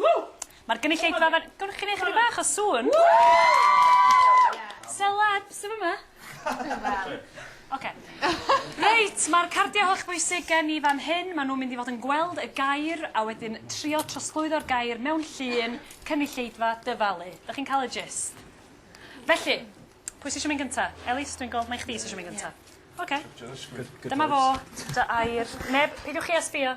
Ww! Mae'r gynulleidfa fan... Gwn chi wneud chydig bach o sŵn? Celebs sydd yma? Oce. Reit, mae'r cardiau holl bwysig gen i fan hyn. Maen nhw'n mynd i fod yn gweld y gair a wedyn trio trosglwyddo'r gair mewn llun, cynulleidfa, dyfalu. Dych chi'n cael y gist? Felly, pwy sy'n eisiau mynd gynta? Elis, dwi'n gweld mai chdi sy'n eisiau mynd gynta. Oce. Dyma fo, dy air. Neb, peidiwch chi a sbio.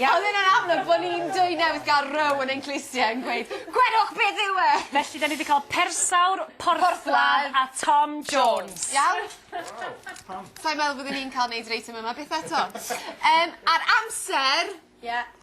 Ia? Odd e'n amlwg bo' ni'n dwy newydd ga'l row yn ein clusie yn gweud gwedwch beth yw e! Felly 'dan ni 'di ca'l persawr, porthladd a Tom Jones. Iawn? Waw. Pam? Sai'n meddwl byddwn i'n ca'l neud yr eitem yma byth eto. Yym a'r amser... Ie.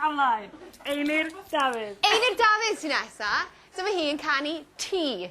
Alai. Eilir Dafydd. Eilir Dafydd sy nesa. Dyma hi yn canu Tee.